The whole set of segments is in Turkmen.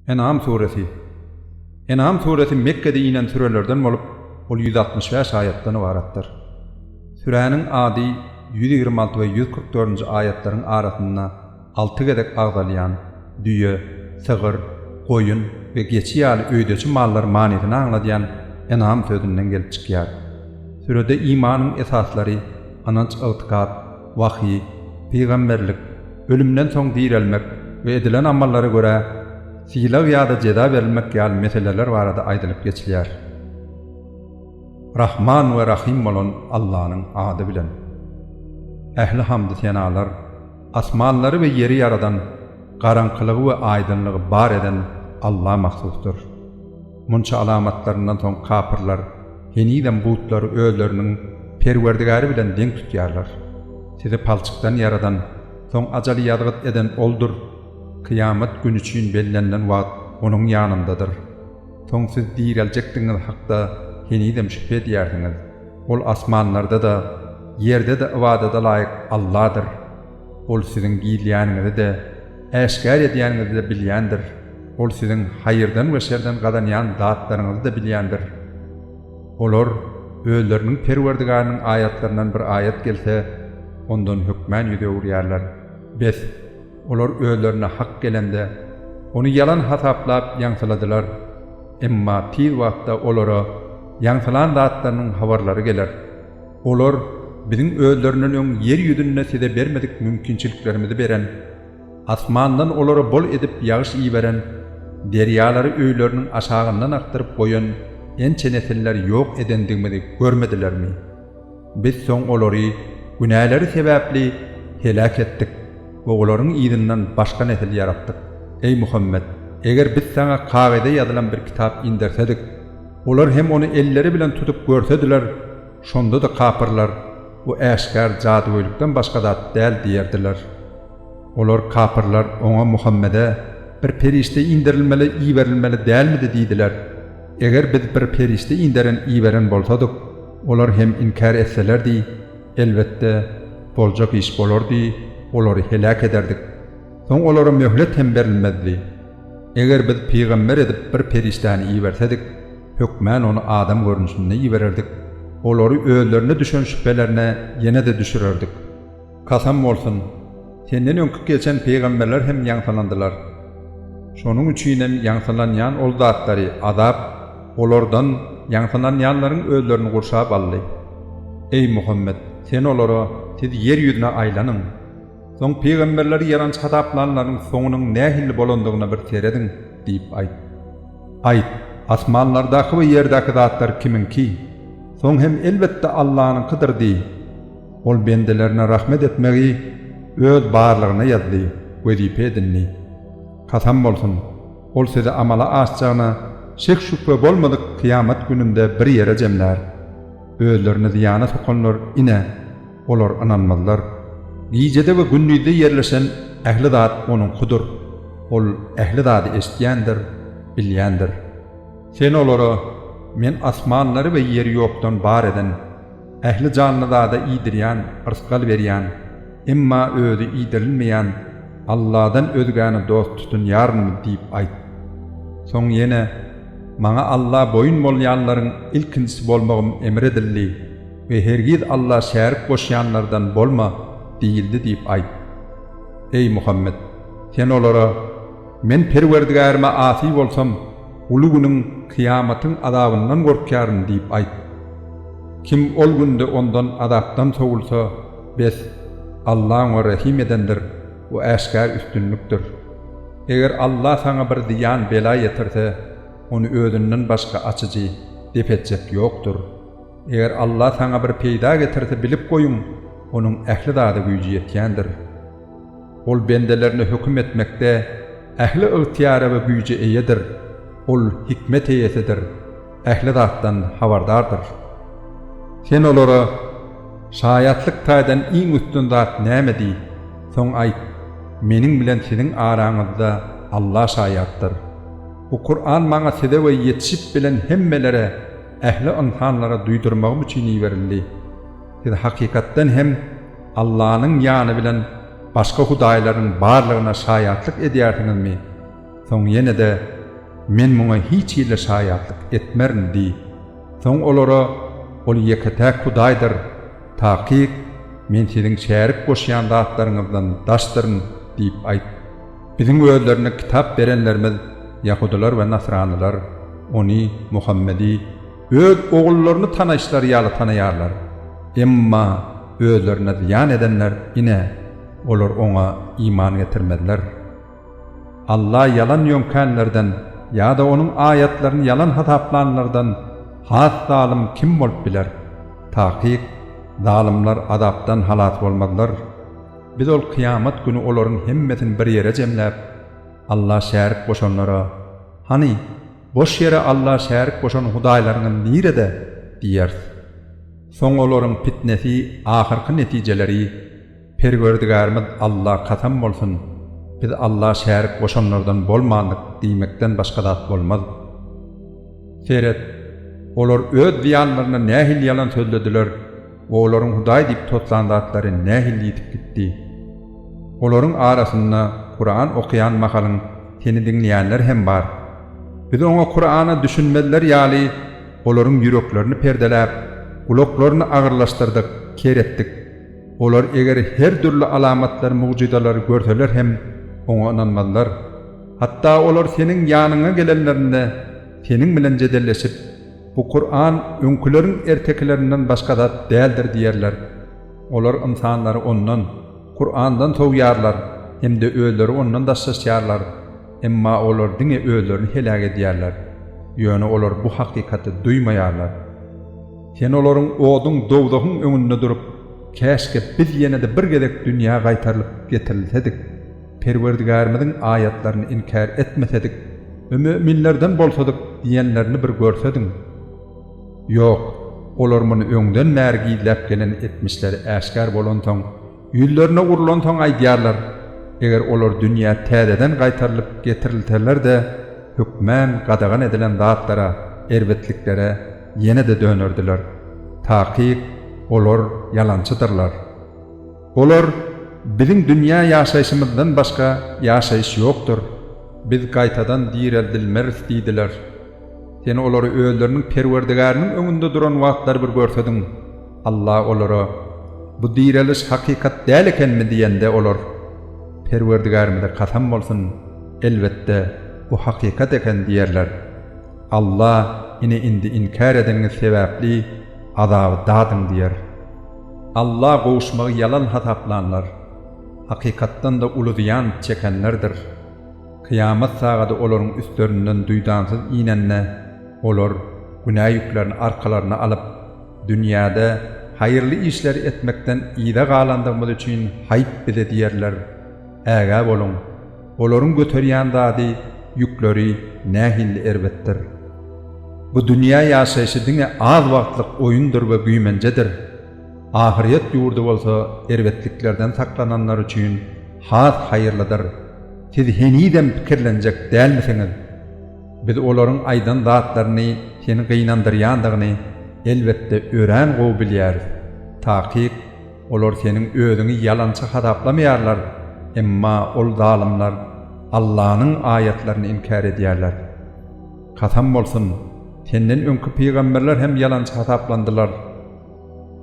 Enam suresi Enam suresi Mekgede inen sürelerden bolup, ol ýüz altmyş bäş aýatdan ybaratdyr. Süräniň ady ýüz ýigrimi alty we ýüz kyrk dördünji aýatlaryň arasynda alty gezek agzalýan, düýe, sygyr, goýun we geçi ýaly öýdeçi mallar manysyny aňladýan Enam sözünden gelip çykýar. Sürede imanyň esaslary, ynanç-ygtykat, wahyý, pygamberlik, ölümden soň direlmek we edilen amallara görä sylag ýa-da jeza berilmek ýaly meseleler barada aýdylyp geçilýär. Rahman we Rahym bolan Allanyň ady bilen. Ähli hamdy-senalar asmanlary we ýeri ýaradan, garaňkylygy we aýdyňlygy bar eden Alla mahsusdyr. Munça alamatlaryndan soň kapyrlar henizem butlary özleriniň Perwerdigäri bilen deň tutýarlar. Sizi palçykdan ýaradan, soň ajaly ýazgyt eden Oldur. Kyýamat güni üçin bellenilen wagt Onuň ýanyndadyr. Soň siz direljekdigiňiz hakda henizem şübhe edýärsiňiz. Ol asmanlarda-da, ýerde-de ybadada laýyk Alladyr. Ol siziň gizleýäniňizi-de, äşgär edýäniňizi-de bilýändir. Ol siziň haýyrdan we şerden gazanýan zatlaryňyzy-da bilýändir. Olar özleriniň Perwerdigarynyň aýatlaryndan bir aýat gelse, ondan hökmän ýüz öwürýärler. Bes, olar özlerine hak gelende, ony ýalan hasaplap ýaňsyladylar. Emma tiz wagtda olara ýaňsylan zatlarynyň habarlary geler. Olar biziň özlerinden öň ýer ýüzünde size bermedik mümkinçiliklerimizi beren, asmandan olara bol edip ýagyş iberen, derýalary öýleriniň aşagyndan akdyryp goýan ençe nesiller ýok edendigimizi görmedilermi? Biz soň olary günäleri sebäpli heläk etdik we olaryň yzyndan başga nesil ýaratdyk. Eý Muhammet! Eger biz saňa kagyza ýazylan bir kitap indersedik, Olar hem ony elleri bilen tutup görsediler, şonda-da kapyrlar, Bu äşgär jadygöýlikden başga zat däl diýerdiler. Olar, kapyrlar, oňa, Muhammede, bir perişde inderilmeli, iberilmeli dälmidi diýdiler. Eger biz bir perişde inderen, iberen bolsadyk, olar hem inkär etselerdi, elbetde, boljak iş bolardy, olary heläk ederdik. Soň olara möhlet hem berilmezdi. Eger biz pygamber edip bir perişdäni ibersedik, hökmän ony adam görnüşinde ibererdik, olary özlerine düşen şübhelerine ýene-de düşürerdik. Kasam bolsun! Senden öňki geçen pygamberler hem ýaňsylandylar. Şonuň üçin hem ýaňsylanýan ol zatlary, azap, olardan, ýaňsylanýanlaryň özlerini gurşap aldy. Eý, Muhammet! Sen olara, Siz ýer ýüzüne aýlanyň! Soň pygamberleri ýalançy hasaplanlaryň soňunyň nähili bolandygyna bir serediň, diýip aýt. Aýt, Asmanlardaky we ýerdäki zatlar kimiňki? Soň hem elbetde Allanyňkydyr diý. Ol bendelerine rahmet etmegi Öz barlygyna ýazdy, wezipe edindi. Kasam bolsun, Ol sizi amala aşjagyna şek-şübhe bolmadyk kyýamat gününde bir ýere jemlär. Özlerini zyýana sokanlar, ine, Olar ynanmazlar. Gijede we gündizde ýerleşen ähli zat Onuňkydyr. Ol ähli zady eşidýändir, bilýändir. Sen olara, Men asmanlary we ýeri ýokdan bar eden, ähli janly zada iýdirýän, rysgal berýän, emma Özi iýdirilmeýän Alladan özgäni dost tutunýarynmy? diýip aýt. Soň ýene, Maňa Alla boýun bolýanlaryň ilkinjisi bolmagym emr edildi. We hergiz Alla şärik goşýanlardan bolma diýildi diýip aýt. Eý, Muhammet! Sen olara, Men Perwerdigärime asy bolsam, uly günüň, kyýamatyň, azabyndan gorkýaryn diýip aýt. Kim ol günde ondan, azapdan, sowulsa, bes, Alla oňa rehim edendir, bu äşgär üstünlikdir. Eger Alla saňa bir zyýan, bela ýetirse, ony özünden başga açyjy, dep etjek, ýokdur. Eger Alla saňa bir peýda getirse bilip goýuň, Onuň ähli zada güýji ýetýändir. Ol bendelerine höküm etmekde ähli ygtyýara we güýje eýedir. Ol hikmet eýesidir, ähli zatdan habardardyr. Sen olara, Şaýatlyk taýdan iň üstün zat näme? diý. Soň aýt, Meniň bilen siziň araňyzda Alla şaýatdyr. Bu Kuran maňa size we ýetişip bilen hemmelere, Ähli ynsanlara duýdurmagym üçin iberildi. Siz hakykatdan hem Allanyň ýany bilen başga hudaýlaryň barlygyna şaýatlyk edýärsiňizmi? Soň ýene-de, Men muňa hiç hili şaýatlyk etmerin diý. Soň olara, Ol ýeke-täk Hudaýdyr, takyk Men siziň şärik goşýan zatlaryňyzdan daşdyryn diýip aýt. Biziň özlerine kitap berenlerimiz ýahudylar we nasranylar Ony, Muhammedi, öz ogullaryny tanaýyşlary ýaly tanaýarlar. Emma özlerine zyýan edenler, ine, olar Oňa iman getirmezler. Alla ýalan ýöňkänlerden ýa-da Onuň aýatlaryny ýalan hasaplanlardan has zalym kim bolup biler? Takyk, zalymlar azapdan halas bolmazlar. Biz ol kyýamat güni olaryň hemmesini bir ýere jemläp, Alla şärik goşanlara, Hany, boş ýere Alla şärik goşan hudaýlaryňyz nirede? diýeris. Soň olaryň pitnesi, ahyrky netijeleri, Perwerdigärimiz Alla kasam bolsun, biz Alla şärik goşanlardan bolmandyk diýmekden başga zat bolmaz. Seret, olar öz zyýanlaryna nähili ýalan sözlediler! Olaryň Hudaý diýip toslan zatlary nähili ýitip gitdi! Olaryň arasynda Kuran okaýan mahalyň seni diňleýänler hem bar. Biz oňa Kurana düşünmezler ýaly olaryň ýüreklerini perdeläp, gulaklaryny agyrlaşdyrdyk, ker etdik. Olar eger her dürli alamatlary-mugjyzalary görseler hem oňa ynanmazlar. Hatda olar seniň ýanyňa gelenlerinde seniň bilen jedelleşip, Bu Kuran öňküleriň ertekilerinden başga zat däldir diýerler. Olar ynsanlary ondan, Kurandan sowýarlar hem-de özleri ondan daşlaşýarlar, emma olar diňe özlerini heläk edýärler, ýöne olar bu hakykaty duýmaýarlar. Sen olaryň oduň, dowzahyň, öňünde durup, Käşgä biz ýene-de bir gezek dünýä gaýtarylyp getirilsedik! Perwerdigärimiziň aýatlaryny inkär etmesedik we müminlerden bolsadyk diýenlerini bir görsediň! Ýok, olar muny öňden bäri gizläp gelen etmişleri äşgär bolansoň, ýüzlerine urlansoň aýdýarlar, Eger olar dünýä täzeden gaýtarylyp getirilseler-de, hökmän gadagan edilen zatlara, erbetliklere, ýene-de dönerdiler. Takyk, olar ýalançydyrlar. Olar, Biziň dünýä ýaşaýşymyzdan başga ýaşaýyş ýokdur. Biz gaýtadan direldilmeris diýdiler. Sen olary özleriniň Perwerdigäriniň öňünde duran wagtlary bir görsediň! Alla olara, Bu direliş hakykat däl ekenmi? diýende, olar, Perwerdigärimize kasam bolsun, elbetde, bu hakykat eken diýerler. Alla, Ine, indi inkär edeniňiz sebäpli azaby dadyň diýer. Alla gowuşmagy ýalan hasaplanlar, hakykatdan-da uly zyýan çekenlerdir. Kyýamat sagady olaryň üstlerinden duýdansyz inende, olar günä ýüklerini arkalaryna alyp, dünýäde haýyrly işleri etmekden yza galandygymyz üçin haýp bize diýerler. Ägä boluň! Olaryň göterýän zady, ýükleri nähilli erbetdir! Bu dünýä ýaşaýşy diňe az wagtlyk oýundyr we güýmenjedir. Ahyryýet ýurdy bolsa erbetliklerden saklananlar üçin has haýyrlydyr. Siz henizem pikirlenjek dälmisiňiz? Biz olaryň aýdan zatlaryny seni gynandyrýandygyny, elbetde, örän gowy bilýäris. Takyk. Olar seniň özüňi ýalançy hasaplamaýarlar, emma ol zalymlar Allanyň aýatlaryny inkär edýärler. Kasam bolsun, senden öňki pygamberler hem ýalançy hasaplandylar.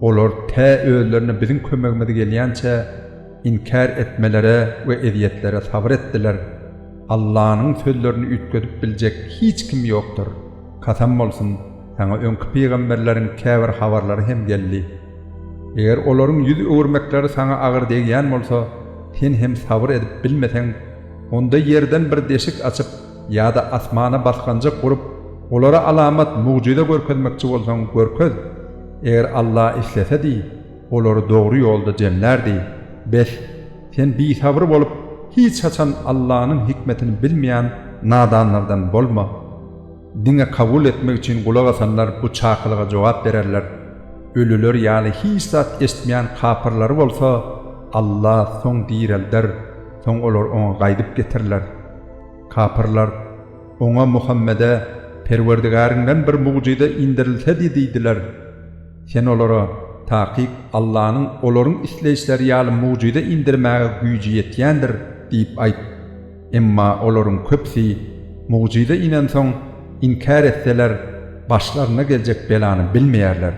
Olar tä özlerine biziň kömegimiz gelýänçä inkär etmelere we ezýetlere sabyr etdiler. Allanyň sözlerini üýtgedip biljek hiç kim ýokdur. Kasam bolsun, saňa öňki pygamberleriň käbir habarlary hem geldi. Eger olaryň ýüz öwürmekleri saňa agyr degýän bolsa, sen hem sabyr edip bilmeseň, onda ýerden bir deşik açyp ýa-da asmana basganjyk gurup, olara alamat, mugjyza görkezmekçi bolsaň, görkez. Eger Alla islesedi, olary dogry ýolda jemlärdi. Bes, sen bisabyr bolup, hiç haçan Allanyň hikmetini bilmeýän nadanlardan bolma. Diňe kabul etmek üçin gulak asanlar bu çakylyga jogap bererler. Ölüler ýaly hiç zat eşitmeýän kapyrlary bolsa Alla soň direlder, soň olar oňa gaýdyp getiriler. Kapyrlar, Oňa, Muhammede, Perwerdigäriňden bir mugjyza indirilsedi diýdiler. Sen olara, Takyk, Allanyň olaryň isleýişleri ýaly mugjyza indirmäge güýji ýetýändir diýip aýt. Emma olaryň köpüsi mugjyza inensoň, inkär etseler, başlaryna geljek belany bilmeýärler.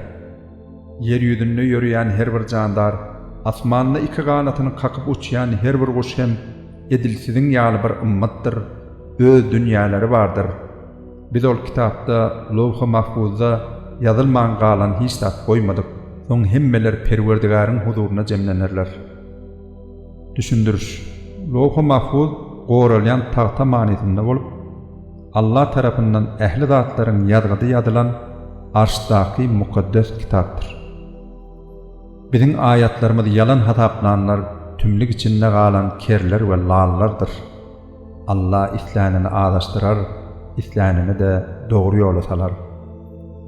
Ýer ýüzünde ýöreýän her bir jandar, asmanda iki ganatyny kakyp uçýan her bir guş hem edil siziň ýaly bir ymmatdyr, öz dünýäleri bardyr. Biz ol kitapda, lowhy mahfuzda, ýazylman galan hiç zat goýmadyk. Soň hemmeler Perwerdigäriň huzuryna jemlenerler. Düşündiriş. Lowhy Mahfuz goralýan tagta manysynda bolup, Alla tarapyndan ähli zatlaryň ýazgydy ýazylan Arşdaky mukaddes kitapdyr. Biziň aýatlarymyzy ýalan hasaplanlar tümlük içinde galan kerler we lallardyr. Alla islänini azaşdyrar, islänini-de dogry ýola salar.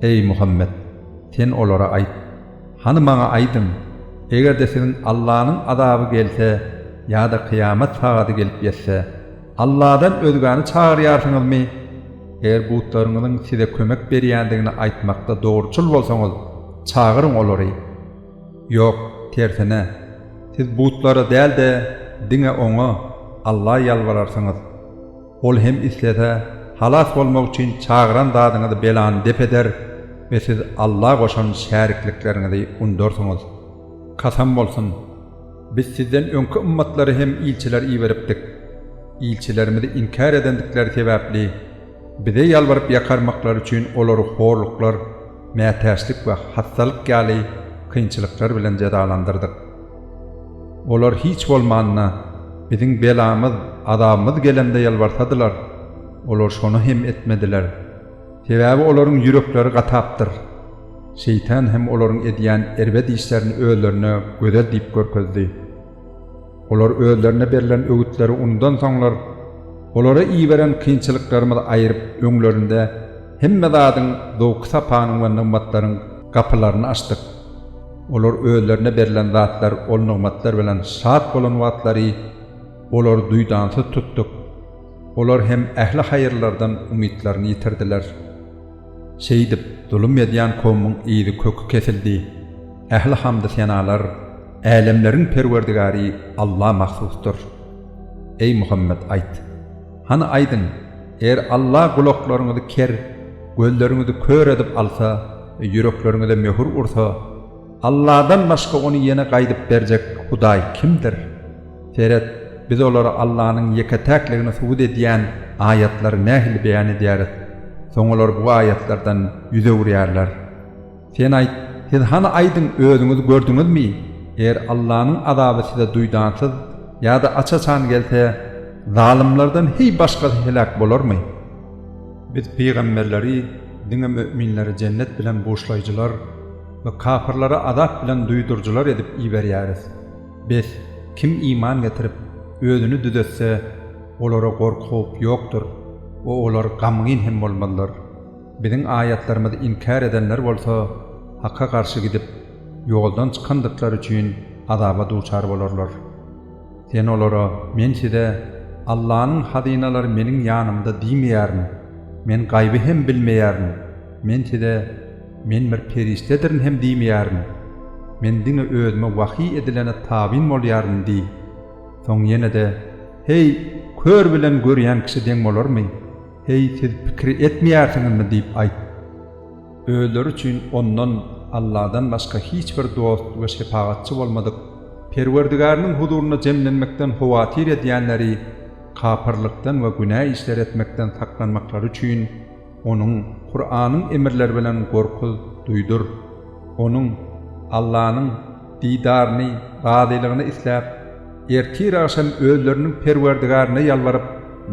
Eý, Muhammet! Sen olara aýt. Hany maňa aýdyň, eger-de siziň Allanyň azaby gelse ýa-da kyýamat sagady gelip ýetse, Alladan özgäni çagyrýarsyňyzmy? Eger butlaryňyzyň size kömek berýändigini aýtmakda dogruçyl bolsaňyz, çagyryň olary. Ýok, tersine, siz butlara däl-de, diňe Oňa, Alla ýalbararsyňyz. Ol hem islese, halas bolmak üçin çagyran zadyňyzy belany dep eder we siz Alla goşan şäriklikleriňizi undarsyňyz. Kasam bolsun! Biz sizden öňki ymmatlara hem ilçiler iberipdik. Ilçilerimizi inkär edendikleri sebäpli, bize ýalbaryp-ýakarmaklary üçin olary horluklar, mätäçlik we hassalyk ýaly kynçylyklar bilen jezalandyrdyk. Olar hiç bolmanda, biziň belamyz, azabymyz gelende ýalbarsadylar, olar şony hem etmediler. Sebäbi olaryň ýürekleri gatapdyr. Şeýtan hem olaryň edýän erbet işlerini özlerine gözel diýip görkezdi. Olar özlerine berlen öwütleri unudansoňlar, olara iberen kynçylyklarymyz aýryp öňlerinde hemme zadyň, zowky-sapanyň we nygmatlaryň gapylaryny açdyk. Olar özlerine berlen zatlar, ol nygmatlar bilen şat bolan wagtlary olary duýdansyz tutduk. Olar hem ähli haýyrlardan umytlaryny ýitirdiler. Şeýdip, zulum edýän kowmuň yzy-köki kesildi. Ähli hamdy-senalar Älemleriň Perwerdigary Alla mahsusdyr. Eý, Muhammet, aýt! Hany aýdyň, eger Alla gulaklaryňyzy ker, gözleriňizi kör edip alsa we ýürekleriňize möhür ursa, Alladan başga ony ýene gaýdyp berjek Hudaý kimdir? Seret, biz olara Allanyň ýeke-täkligini subut edýän aýatlary nähili beýan edýäris, soň olar bu aýatlardan ýüz öwürýärler. Sen aýt, siz hany aýdyň özüňiz gördüňizmi, eger Allanyň azaby size duýdansyz ýa-da aç-açan gelse, zalymlardan heý başgasy heläk bolarmy? Biz pygamberleri diňe möminleri jennet bilen buşlaýjylar we kapyrlary azap bilen duýduryjylar edip iberýäris. Bes, kim iman getirip, özüni düzetse, olara gorky-howp ýokdur we olar gamgyn hem bolmazlar. Biziň aýatlarymyzy inkär edenler bolsa Hakka garşy gidip, ýoldan çykandyklary üçin azaba duçar bolarlar. Sen olara, Men size Allanyň hazynalary meniň ýanymda diýmeýärin, men gaýby hem bilmeýärin, men size Men bir perişdedirin hem diýmeýärin, men diňe özüme wahyý edilene tabyn bolýaryn diý. Soň ýene-de, Heý, kör bilen görýän kişi deň bolarmy? Heý, siz pikir etmeýärsiňizmi? diýip aýt. Özleri üçin Ondan, Alladan, başga hiç bir dost we şepagatçy bolmadyk Perwerdigäriniň huzuryna jemlenmekden howatyr edýänleri kapyrlykdan we günä işleri etmekden saklanmaklary üçin Onuň, Kuranyň, emirleri bilen gorkuz, duýdur. Onuň, Allanyň, didaryny, razylygyny isläp, ertir-agşam özleriniň Perwerdigärine ýalbaryp,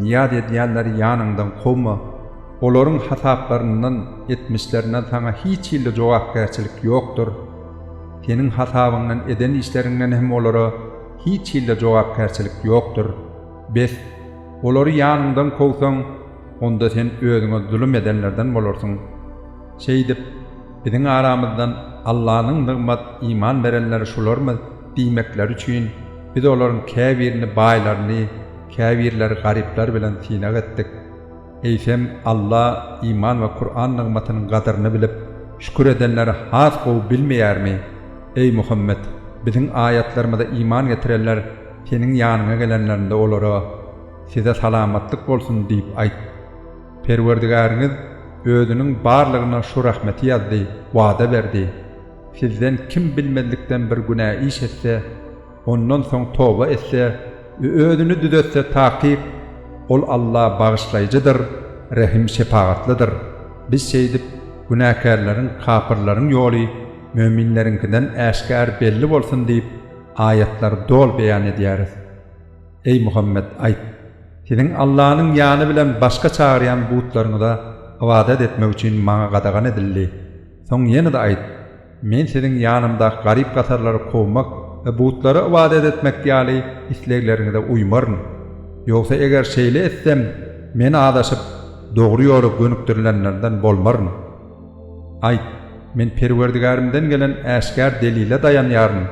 nyýaz edýänleri ýanyňdan kowma, olaryň hasaplaryndan, etmişlerinden saňa hiç hilli jogapkärçilik ýokdur. Seniň hasabyňdan, eden işleriňden hem olara hiç hilli jogapkärçilik ýokdur. Bes, olary ýanyňdan kowsaň, onda sen özüňe zulum edenlerden bolarsyň. Şeýdip, biziň aramyzdan Allanyň nygmat iman berenleri şularmyz diýmekleri üçin, biz olaryň käbirini baýlaryny, käbirleri garyplary bilen synag etdik. Eýsem, Alla iman we Kuran nygmatynyň gadyryny bilip, şükür edenleri has gowy bilmeýärmi? Eý, Muhammet! Biziň aýatlarymyza iman getirenler seniň ýanyňa gelenlerinde olara, Size salamatlyk bolsun! diýip aýt. Perwerdigäriňiz Özüniň barlygyna şu rahmeti ýazdy, wada berdi. Sizden kim bilmezlikden bir günä iş etse, ondan soň toba etse we özüni düzetse takyk, Ol Alla bagyşlaýjydyr, rehim-şepagatlydyr. Biz şeýdip, günäkärleriň, kapyrlaryň ýoly möminleriňkiden äşgär belli bolsun diýip, aýatlary doly beýan edýäris. Eý Muhammet, aýt, Siziň Allanyň ýany bilen başga çagyrýan butlaryňyza ybadat etmek üçin Maňa gadagan edildi. Soň ýene-de aýt, Men siziň ýanymdaky garyp-gasarlary kowmak we butlara ybadat etmek ýaly islegleriňize uýmaryn. Ýogsa eger şeýle etsem, Men azaşyp, dogry ýola gönükdirilenlerden bolmaryn. Aýt, Men Perwerdigärimden gelen äşgär delile daýanýaryn,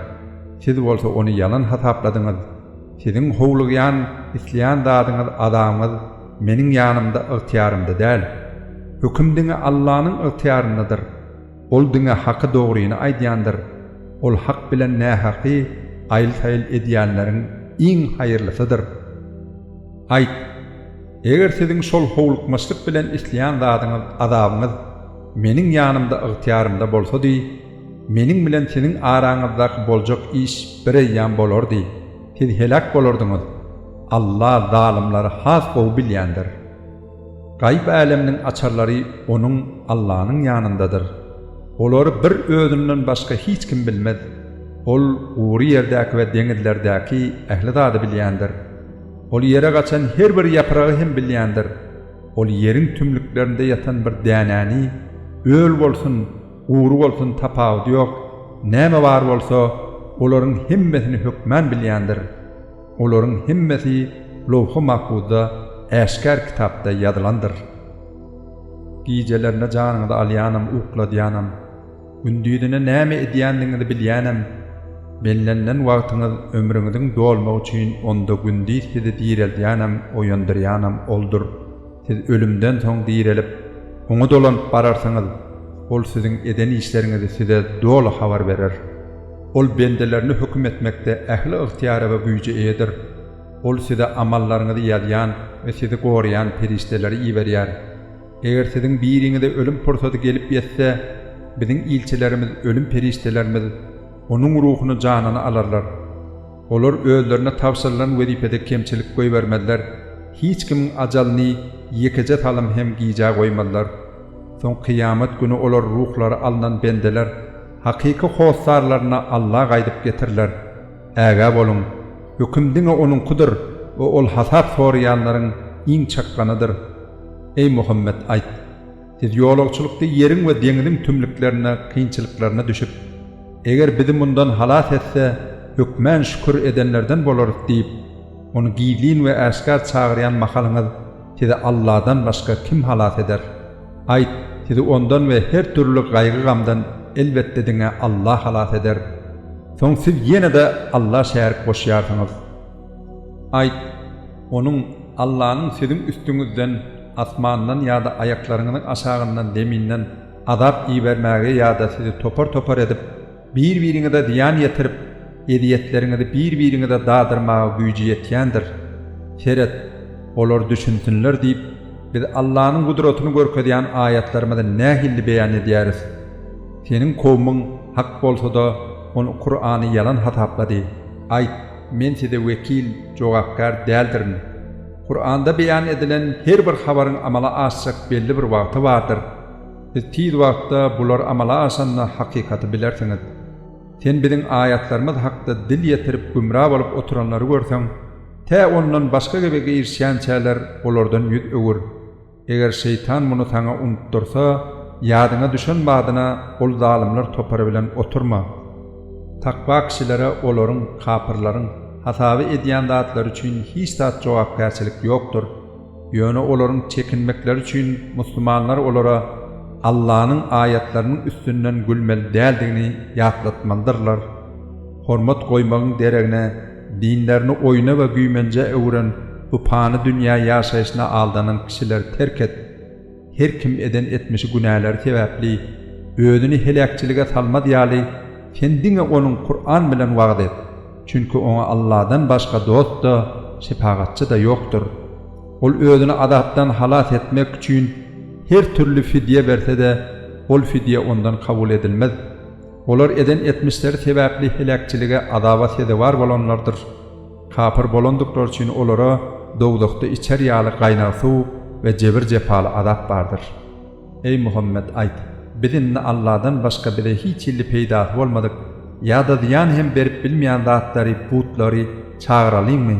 siz bolsa ony ýalan hasapladyňyz. Siziň howlugýan, isleýän zadyňyz, azabyňyz Meniň ýanymda, ygtyýarymda däl. Höküm diňe Allanyň ygtyýaryndadyr. Ol diňe haky-dogryny aýdýandyr. Ol hak bilen nähaky aýyl-saýyl edýänleriň iň haýyrlysydyr. Aýt! Eger siziň şol howlukmaçlyk bilen isleýän zadyňyz azabyňyz Meniň ýanymda ygtyýarymda bolsady, Meniň bilen siziň araňyzdaky boljak iş bir eýýam bolardy, siz heläk bolardyňyz. Alla zalymlary has gowy bilýändir. Gaýyp äleminiň açarlary Onuň, Allanyň, ýanyndadyr. Olary bir Özünden başga hiç kim bilmez. Ol gury ýerdäki we deňizlerdäki ähli zady bilýändir. Ol ýere gaçan her bir ýapragy hem bilýändir. Ol ýeriň tümlüklerinde ýatan bir dänäni, öl bolsun, gury bolsun tapawudy ýok, näme bar bolsa, olaryň hemmesini hökmän bilýändir. Olaryň hemmesi lowhy mahfuzda, äşgär kitapda ýazylandyr. Gijelerine janyňyzy alýanam, ukladýanam. Gündizine näme edýändigiňizi bilýänem. Bellenilen wagtyňyz ömrüňiziň dolmagy üçin onda gündiz sizi direldýänem, oýandyrýanam Oldur. Siz ölümden soň direlip, Oňa dolanyp bararsyňyz. Ol siziň eden işleriňizi size doly habar berer. Ol bendelerine höküm etmekde ähli ygtyýara we güýje eýedir. Ol size amallaryňyzy ýazýan we sizi goraýan perişdeleri iberýär. Eger siziň biriňize ölüm pursady gelip ýetse, biziň ilçilerimiz, ölüm perişdelerimiz, onuň ruhuny, janyny alarlar. Olar özlerine tabşyrylan wezipede kemçilik goýbermezler, hiç kimiň ajalyny ýekeje salym hem gijä goýmazlar. Soň kyýamat güni olar ruhlary alnan bendeler, hakyky hossarlaryna Alla gaýdyp getiriler. Ägä boluň, höküm diňe Onuňkydyr we Ol hasap soraýanlaryň iň çakganydyr. Eý, Muhammet, aýt, Siz ýolagçylykda ýeriň we deňziň tümlüklerine, kynçylyklaryna düşüp, Eger Bizi mundan halas etse, hökmän şükür edenlerden bolarys diýip, ony gizlin we äşgär çagyrýan mahalyňyz, sizi Allahdan başga kim halas eder? Aýt, sizi ondan we her dürli gaýgy-gamdan, elbetde, diňe Alla halas eder. Soň siz ýene-de Alla şärik goşýarsyňyz. Aýt, Onuň, Allanyň, siziň üstüňizden, asmandan ýa-da aýaklaryňyzyň aşagyndan, zeminden, azap ibermägi ýa-da sizi topar-topar edip, Bir-biriňize zyýan ýetirip, ezýetleriňizi bir-biriňize dadyrmaga güýji ýetýändir. Seret, olar düşünsinler diýip, Biz Allanyň gudratyny görkezýän aýatlarymyzy nähili beýan edýäris. Seniň kowumyň hak bolsa-da, ol Kurany ýalan hasaplady. Aýt, Men size wekil, jogapkär, däldirin. Kuranda beýan edilen her bir habaryň amala aşjak belli bir wagty bardyr. Siz tiz wagtda bular amala aşanda hakykaty bilersiňiz. Sen biziň aýatlarymyz hakda dil ýetirip gümra bolup oturanlary görseň, tä ondan başga gebe girişýänçäler olardan ýüz öwür. Eger şeýtan muny saňa unutdyrsa, ýadyňa düşen badyna ol zalymlar topary bilen oturma. Takwa kişilere olaryň, kapyrlaryň, hasaby edýän zatlary üçin hiç zat jogapkärçilik ýokdur. Ýöne olaryň çekinmekleri üçin musulmanlar olara Allanyň aýatlarynyň üstünden gülmeli däldigini ýatlatmalydyrlar. Hormat goýmagyň deregine, dinlerini oýna we güýmenjä öwren bu pany dünýä ýaşaýşyna aldanan kişileri terk et. Her kim eden etmişi günäleri sebäpli özüni heläkçilige salmaz ýaly, sen diňe onuň Kur'an bilen wagyz et, çünki oňa Allahdan başga dost-da, şepagatçy-da ýokdur. Ol özüni azapdan halas etmek üçin her türli fidýe berse-de, ol fidýe ondan kabul edilmez. Olar eden etmişleri sebäpli heläkçilige, azaba sezewar bolanlardyr. Kapyr bolandyklary üçin olara dowzahda içer ýaly gaýnag suw we jebir-jepaly azap bardyr. Eý, Muhammet, aýt, Biz indi Alladan başga bize hiç hilli peýdasy bolmadyk ýa-da zyýan hem berip bilmeýän zatlary, putlary, çagyralyňmy?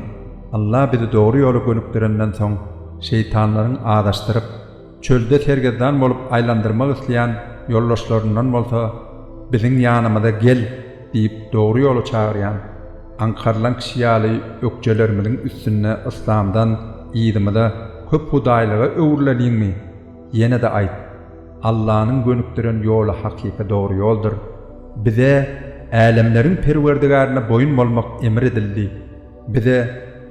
Alla bizi dogry ýola gönükdirenden soň, şeýtanlaryň azaşdyryp, Çölde sergezdan bolup aýlandyrmak isleýän ýoldaşlaryndan bolsa biziň ýanymyza gel diýip dogry ýola çagyrýan, aňkarylan kişi ýaly ökjelerimiziň üstünde yslamdan yzymyza köp hudaýlyga öwrüleliňmi? Ýene-de aýt, Allanyň gönükdiren ýoly hakyky dogry ýoldur. Bize Älemleriň Perwerdigärine boýun bolmak emr edildi. Bize,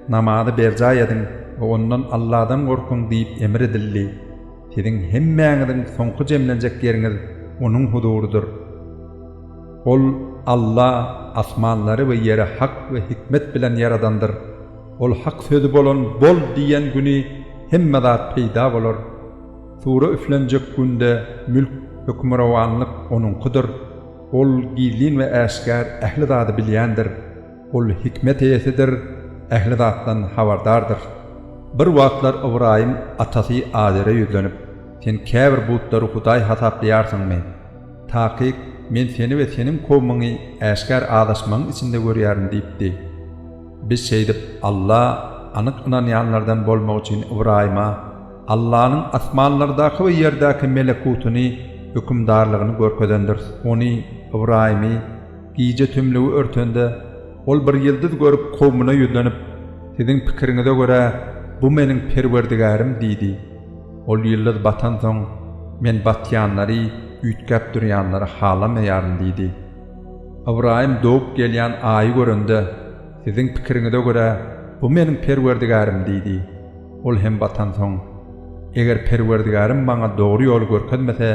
Namazy berjaý ediň we ondan Alladan gorkuň diýip emr edildi. Siziň hemmäňiziň soňky jemlenjek ýeriňiz Onuň huzurydyr. Ol, Alla, asmanlary we ýeri hak we hikmet bilen ýaradandyr. Ol hak sözi bolan Bol! diýen güni hemme zat peýda bolar. Sura üflenjek günde mülk, hökmürowanlyk Onuňkydyr. Ol gizlin we äşgär ähli zady bilýändir. Ol hikmet eýesidir, ähli zatdan habardardyr. Bir wagtlar Ybraýym atasy Azere ýüzlenip, Sen käbir butlary hudaý hasaplaýarsyňmy? Takyk, men seni we seniň kowumyňy äşgär azaşmagyň içinde görýärin diýipdi. Biz şeýdip, Alla anyk ynanýanlardan bolmak üçin Ybraýyma Allanyň asmanlardaky we ýerdäki melekutyny, hökümdarlygyny görkezendiris. Ony, Ybraýymy, Gije tümlügi örtende, ol bir ýyldyz görüp, kowumyna ýüzlenip, Siziň pikiriňize görä, bu meniň Perwerdigärim diýdi. Ol ýyldyz batansoň, Men batýanlary, üýtgäp durýanlary halamaýaryn diýdi. Ybraýym dogup gelýän Aýy görende, Siziň pikiriňize görä, bu meniň Perwerdigärim diýdi. Ol hem batansoň, Eger Perwerdigärim maňa dogry ýoly görkezmese,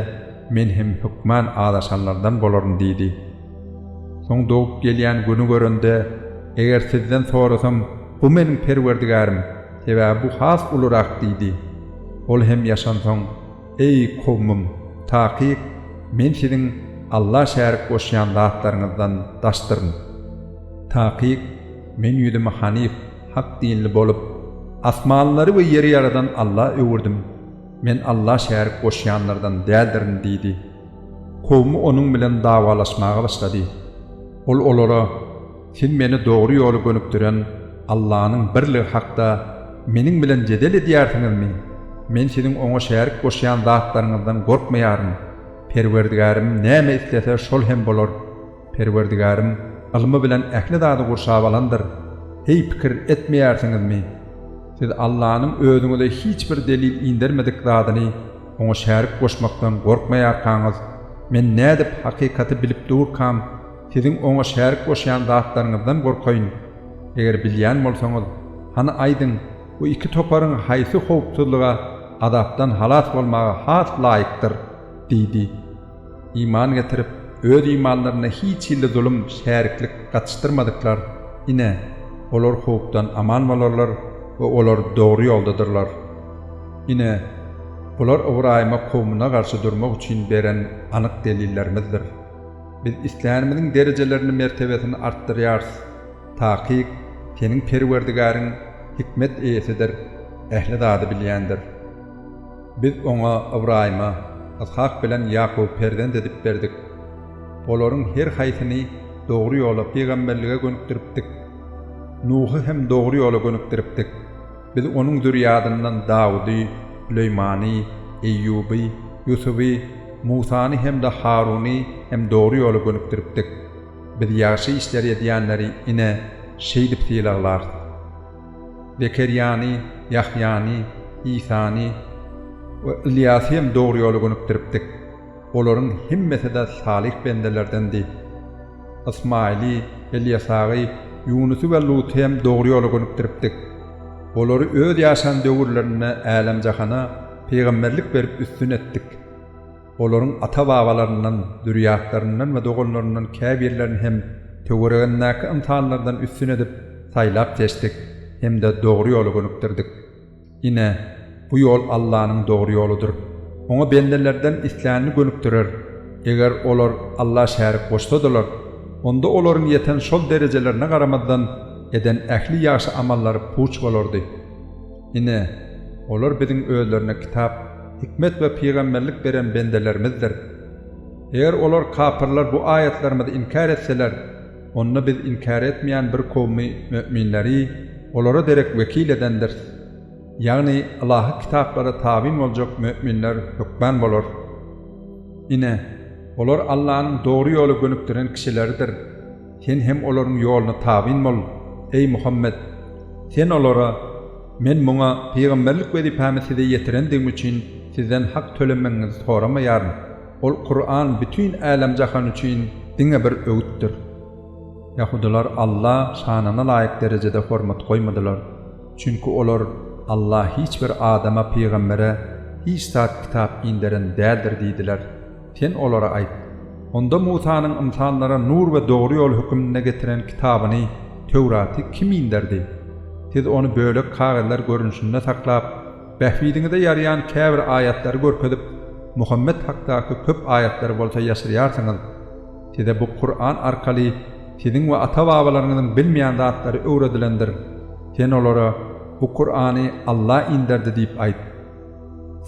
Men hem hökman azaşanlardan bolaryn diýdi. Soň dogup gelýän güni görende, Eger sizden sorasam, bu meniň Perwerdigärim, sebäbi bu has ulurak diýdi. Ol hem ýaşansoň, Eý, kowmym, takyk, men siziň Alla şärik goşýan zatlaryňyzdan daşdyryn. Takyk, men ýüzümi hanyf, hak dinli bolup, asmanlary we ýeri ýaradan Alla öwürdim. Men Alla şärik goşýanlardan däldirin diýdi. Kowmy onuň bilen dawalaşmaga başlady. Ol olara, Siz meni dogry ýola gönükdiren Allanyň birligi hakda meniň bilen jedel edýärsiňizmi? Men siziň oňa şärik goşýan zatlaryňyzdan gorkmaýaryn. Perwerdigärim näme islese, şol hem bolar. Perwerdigärim ylmy bilen ähli zady gurşap alandyr. Heý, pikir etmeýärsiňizmi? Siz Allanyň özüňize hiç bir delil indermedik zadyny Oňa şärik goşmakdan gorkmaýarkaňyz, men nädip hakykaty bilip durkam, siziň Oňa şärik goşýan zatlaryňyzdan gorkaýyn? Eger bilýän bolsaňyz, hany aýdyň, bu iki toparyň haýsy howpsuzlyga, azapdan halas bolmaga has laýykdyr? Diýdi. Iman getirip, öz imanlarynda hiç hilli zulum, şäriklik gatyşdyrmadyklar, ine, olar howpdan aman bolarlar we olar dogry ýoldadyrlar. Ine, bular Ybraýyma kowmuna garşy durmak üçin beren anyk delillerimizdir. Biz islänimiziň derejelerini, mertebesini artdyrýarys. Takyk, seniň Perwerdigäriň hikmet eýesidir, ähli zady bilýändir. Biz oňa Ybraýyma, Yshak bilen Ýakuby perzent edip berdik. Olaryň her haýsyny dogry ýola, pygamberlige gönükdiripdik. Nuhy hem dogry ýola gönükdiripdik. Biz onuň zürýadyndan Dawudy, Süleýmany, Eýýuby, Ýusuby, Musany hem-de Haruny hem dogry ýola gönükdiripdik. Biz ýagşy işleri edýänleri ine, şeýdip sylaglarys. Zekerýany, Ýahýany, Isany we Ylýasy hem dogry ýola gönükdiripdik. Olaryň hemmesi-de salyh bendelerdendi. Ysmaýyly, Elýasaby, Ýunusy we Luty hem dogry ýola gönükdiripdik. Olary öz ýaşan döwürlerinde älem-jahana pygamberlik berip üstün etdik. olaryň ata-babalaryndan, zürýatlaryndan we doganlaryndan käbirlerini hem töweregindäki ynsanlardan üstün edip saýlap seçdik hem-de dogry ýola gönükdirdik. Ine, bu ýol Allanyň dogry ýoludyr. Oňa bendelerden islänini gönükdirer. Eger olar Alla şärik goşsadalar, onda olaryň ýeten şol derejelerine garamazdan, eden ähli ýagşy amallary puç bolardy. Ine, olar biziň özlerine kitap, hikmet we pygamberlik beren bendelerimizdir. Eger olar, kapyrlar, bu aýatlarymyzy inkär etseler, onda Biz inkär etmeýän bir kowmy, möminleri, olara derek wekil edendiris. Ýagny Ylahy kitaplara tabyn boljak möminler hökman bolar. Ine, olar Allanyň dogry ýola gönükdiren kişileridir. Sen hem olaryň ýoluna tabyn bol, eý Muhammet! Sen olara, Men muňa pygamberlik wezipämi size ýetirendigim üçin sizden hak tölemegiňizi soramaýaryn. Ol Kuran bütin älem-jahan üçin diňe bir öwütdir. Ýahudylar Alla şanyna laýyk derejede hormat goýmadylar. Çünki olar, Alla hiç bir adama, pygambere, hiç zat, kitap, inderen däldir diýdiler. Sen olara aýt, Onda Musanyň ynsanlara nur we dogry ýol höküminde getiren kitabyny, Töwraty, kim inderdi? Siz ony bölek kagyzlar görnüşinde saklap, bähbidiňize ýaraýan käbir aýatlary görkezip, Muhammet hakdaky köp aýatlary bolsa ýaşyrýarsyňyz. Size bu Kuran arkaly siziň we ata-babalaryňyzyň bilmeýän zatlary öwredilendir. Sen olara, Bu Kurany Alla inderdi diýip aýt.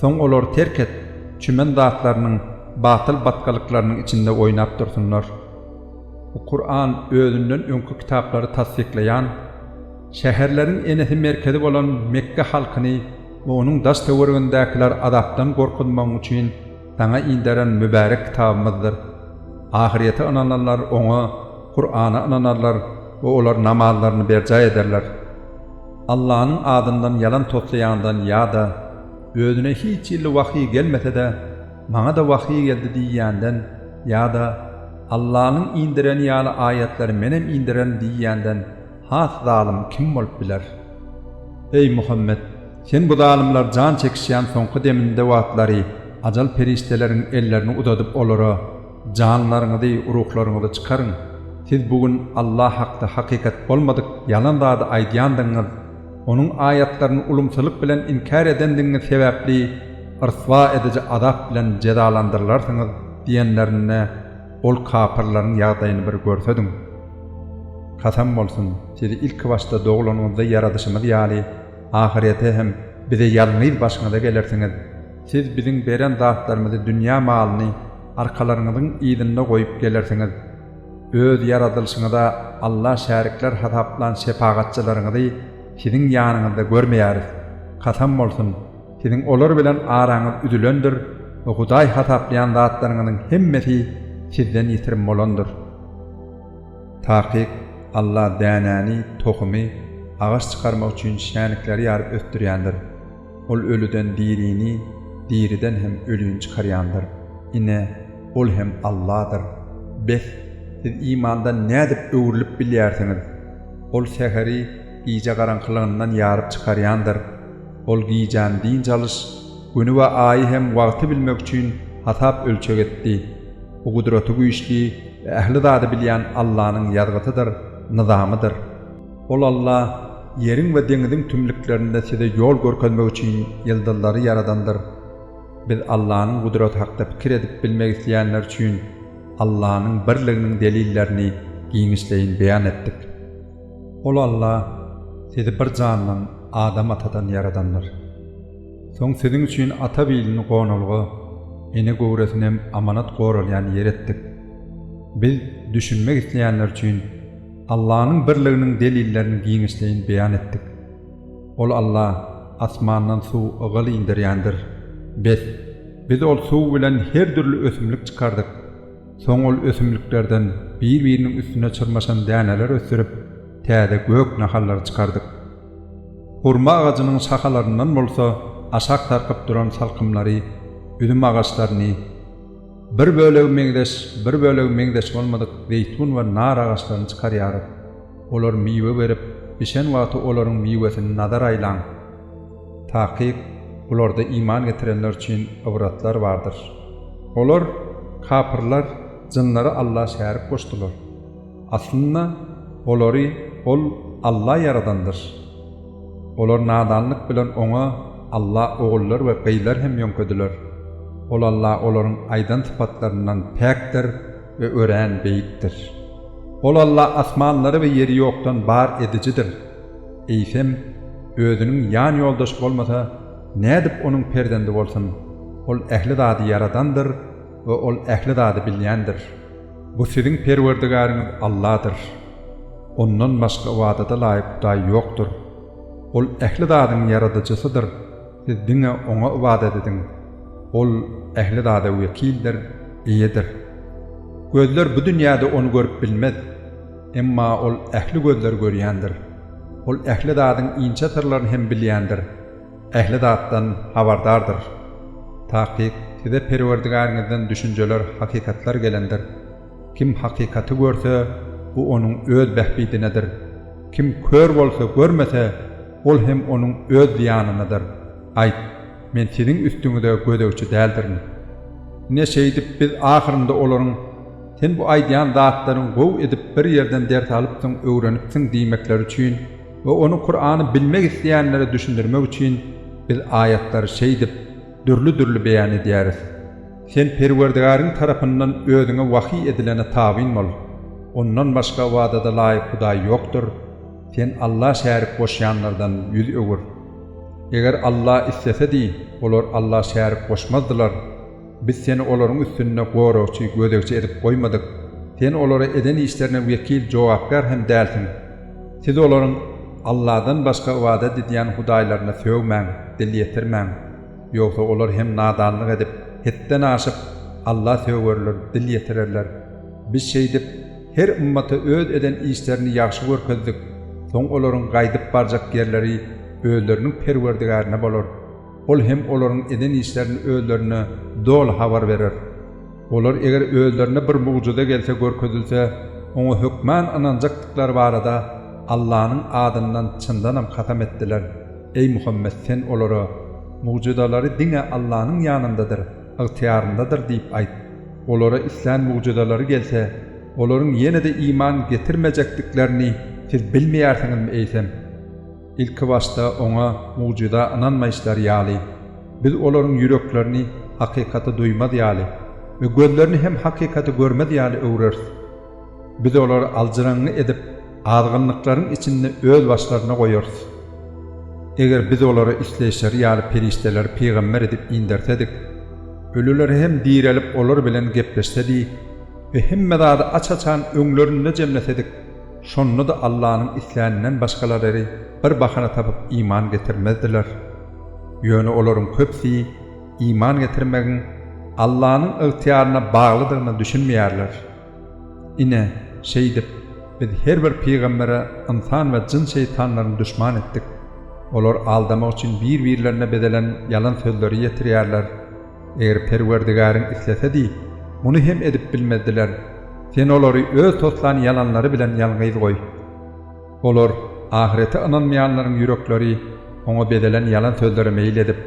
Soň olary terk et, çümen zatlarynyň, batyl batgalyklarynyň içinde oýnap dursunlar. Bu Kuran özünden öňki kitaplary tassyklaýan, şäherleriň enesi merkezi bolan Mekge halkyny we onuň daş-töweregindäkiler azapdan gorkuzmagyň üçin saňa inderen mübärek kitabymyzdyr. Ahyrete ynananlar oňa, Kurana, ynanarlar we olar namazlaryny berjaý ederler. Allanyň adyndan ýalan toslaýandan ýa-da özüne hiç hilli wahyý gelmese-de, Maňa-da wahyý geldi diýýänden ýa-da Allanyň indireni ýaly aýatlary menem indirerin diýýänden has zalym kim bolup biler? Eý, Muhammet! Sen bu zalymlar jan çekişýän soňky deminde wagtlary ajal perişdeleriň ellerini uzadyp olara, Janlaryňyzy, ruhlaryňyzy çykaryň! Siz bu gün Allah hakda hakykat bolmadyk ýalan zady aýdýandygyňyz, Onuň aýatlaryny ulumsylyk bilen inkär edendigiňiz sebäpli ryswa ediji azap bilen jezalandyrylarsyňyz diýenlerinde, ol kapyrlaryň ýagdaýyny bir görsediň! Kasam bolsun, sizi ilki başda doglanyňyzda ýaradyşymyz ýaly, ahyrete hem Bize ýalňyz başyňyza gelersiňiz. Siz Biziň beren zatlarymyzy dünýä malyny, arkalarňyzyň yzynda goýup gelersiňiz. Öz ýaradylyşyňyza Alla şärikler hasaplan şepagatçylaryňyzy siziň ýanyňyzda görmeýäris. Kasam bolsun, siziň olar bilen araňyz üzülendir we Hudaý hasaplaýan zatlaryňyzyň hemmesi sizden ýitirim bolandyr. Takyk, Alla dänäni, tohumy, agaç çykarmak üçin şänikleri ýaryp ösdürýändir. Ol ölüden dirini, diriden hem ölini çykarýandyr. Ine, Ol hem Alladyr. Bes, siz imandan nädip öwrülip bilýärsiňiz? Ol säheri gije garaňkylygyndan ýaryp çykarýandyr. Ol gijäni dynç alyş, güni we aýy hem wagty bilmek üçin hasap-ölçeg etdi. Bu gudraty güýçli we ähli zady bilýän Allanyň ýazgysydyr, nyzamydyr. Ol Alla ýeriň we deňiziň tümlüklerinde size ýol görkezmek üçin ýyldyzlary ýaradandyr. Biz Allanyň gudraty hakda pikir edip bilmek isleýänler üçin Allanyň birliginiň delillerini giňişleýin beýan etdik. Ol Alla sizi bir jandan, Adam atadan ýaradandyr. Soň siziň üçin ata bilini gonalga, ene göwresinem amanat goralýan ýer etdik. Biz düşünmek isleýänler üçin Allanyň birliginiň delillerini giňişleýin beýan etdik. Ol Alla asmandan suw ygyl inderýändir. Bes, Biz ol suw bilen her dürli ösümlik çykardyk. Soň ol ösümliklerden bir-biriniň üstüne çyrmaşan däneler ösdürip, täze gök nahallary çykardyk. Hurma agajynyň şahalaryndan bolsa aşak sarkyp duran salkymlary, üzüm agaçlaryny, Bir bölegi meňzeş, bir bölegi meňzeş bolmadyk zeýtun we nar agaçlaryny çykarýarys. Olar miwe berip, bişen wagty olaryň miwesini nazar aýlaň. Takyk, bularda iman getirenler üçin ybratlar bardyr. Olar, kapyrlar, jynlary Alla şärik goşdular. Aslynda, olary Ol, Alla, ýaradandyr. Olar nadanlyk bilen Oňa alla ogullar we gyzlar hem ýöňkediler. Ol alla olaryň aýdan sypatlaryndan päkdir we örän beýikdir. Ol alla asmanlary we ýeri ýokdan bar edijidir. Eýsem, Özüniň ýan-ýoldaşy bolmasa, nädip Onuň perzendi bolsun? Ol ähli zady ýaradandyr. we Ol ähli zady bilýändir. Bu siziň Perwerdigäriňiz Alladyr. Ondan başga ybadata laýyk hudaý ýokdur. Ol ähli zadyň Ýaradyjysydyr, siz diňe Oňa ybadat ediň. Ol ähli zada wekildir, eýedir. Gözler bu dünýäde Ony görüp bilmez. Emma Ol ähli gözleri görýändir. Ol ähli zadyň inçe syrlaryny hem bilýändir. Ähli zatdan habardardyr. Takyk, size Perwerdigäriňizden düşünjeler, hakykatlar gelendir. Kim hakykaty görse, bu onuň öz bähbidinedir. Kim kör bolsa, görmese, ol hem onuň öz zyýanynadyr. Aýt, Men siziň üstüňize gözegçi däldirin. Ine şeýdip Biz ahyrynda olaryň, Sen bu aýdýan zatlaryňy gowy edip bir ýerden ders alypsyň, öwrenipsiň diýmekleri üçin, we ony Kurany bilmek isleýänlere düşündirmek üçin biz aýatlary şeýdip dürli-dürli beýan edýäris. Sen Perwerdigäriň tarapyndan özüňe wahyý edilene tabyn bol. Ondan başga ybadada laýyk hudaý ýokdur. Sen Alla şärik goşýanlardan ýüz öwür. Eger Alla islesedi, olar Alla şärik goşmazdylar. Biz seni olaryň üstünde goragçy, gözegçi edip goýmadyk. Sen olara eden işlerine wekil, jogapkär hem dälsiň. Siz olaryň Alladan başga ybadat edýän hudaýlaryna sögmäň, dil ýetirmäň. Ýogsa olar hem nadanlyk edip, hetden aşyp, Alla sögerler, dil ýetirerler. Biz şeýdip, her ymmata öz eden işlerini ýagşy görkezdik. Soň olaryň gaýdyp barjak ýerleri özleriniň Perwerdigärine bolar. Ol hem olaryň eden işlerini özlerine doly habar berer. Olar eger özlerine bir mugjyza gelse görkezilse, oňa hökman ynanjakdyklary barada Allanyň adyndan çyndanam kasam etdiler, Eý Muhammet sen olara, Mugjyzalary diňe Allanyň ýanyndadyr, ygtyýaryndadyr diýip aýt. Olara islän mugjyzalary gelse, olaryň ýene-de iman getirmejekdiklerini siz bilmeýärsiňizmi eýsem? Ilki başda Oňa mugjyza ynanmaýyşlary ýaly, Biz olaryň ýüreklerini hakykaty duýmaz ýaly we gözlerini hem hakykaty görmez ýaly öwreris. Biz olary aljyraňňy edip, azgynlyklaryň içinde özbaşlaryna goýarys. Eger Biz olara isleýşleri ýaly perişdeleri pygamber edip indersedik, ölüler hem direlip olar bilen gepleşsedi we hemme zady aç-açan öňlerinde jemlesedik, Şonda-da Allanyň isländinden başgalarary bir bahana tapyp iman getirmezdiler. Ýöne olaryň köpüsi iman getirmegiň Allanyň ygtyýaryna baglydygyna düşünmeýärler. Ine, şeýdip, Biz her bir pygambere ynsan we jyn şeýtanlaryny duşman etdik. Olar aldamak üçin bir-birlerine bezelen ýalan sözleri ýetirýärler. Eger Perwerdigäriň islesedi, muny hem edip bilmezdiler. Sen olary öz toslan ýalanlary bilen ýalňyz goý. Olar, ahyrete ynanmaýanlaryň ýürekleri oňa bezelen ýalan sözlere meýil edip,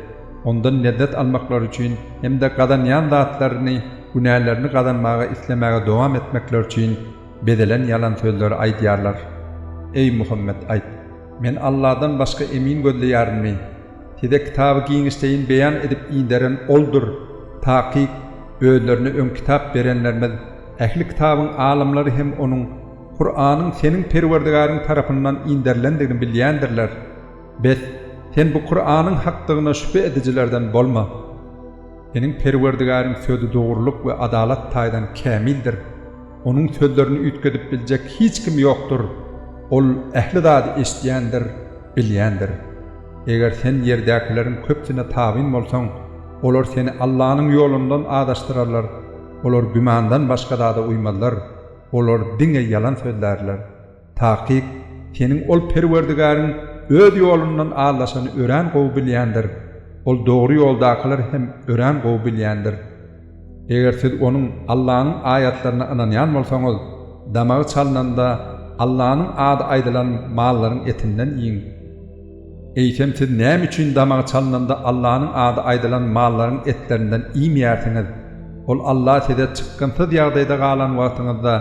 ondan lezzet almaklary üçin hem-de gazanýan zatlaryny günälerini gazanmaga islemäge dowam etmekleri üçin bezelen ýalan sözleri aýdýarlar. Eý, Muhammet, aýt, Men Alladan başga emin gözleýärinmi? Size kitaby giňişleýin beýan edip inderen Oldur. Takyk, özlerine öň kitap berenlerimiz, ähli kitabyň alymlary hem onuň, Kuranyň seniň Perwerdigäriň tarapyndan inderilendigini bilýändirler. Bes, sen bu Kuranyň hakdygyna şübhe edijilerden bolma. Seniň Perwerdigäriň sözi dogrulyk we adalat taýdan kämildir. Onuň sözlerini üýtgedip biljek hiç kim ýokdur. Ol ähli zady eşidýändir, bilýändir. Eger sen ýerdäkileriň köpüsine tabyn bolsaň, olar seni Allanyň ýolundan azaşdyrarlar. Olar gümandan başga zada uýmazlar. Olar diňe ýalan sözlärler. Takyk, seniň ol Perwerdigäriň Öz ýolundan aldaşany örän gowy bilýändir, ol dogry ýoldakylar hem örän gowy bilýändir. Eger siz onuň, Allanyň, aýatlaryna ynanýan bolsaňyz, damagy çalnanda, Allanyň ady aýdylan mallaryň etinden iýiň. Eýsem siz näme üçin damagy çalnanda Allanyň ady aýdylan mallaryň etlerinden iýmeýärsiňiz? Ol Alla size çykgynsyz ýagdaýda galan wagtyňyzda,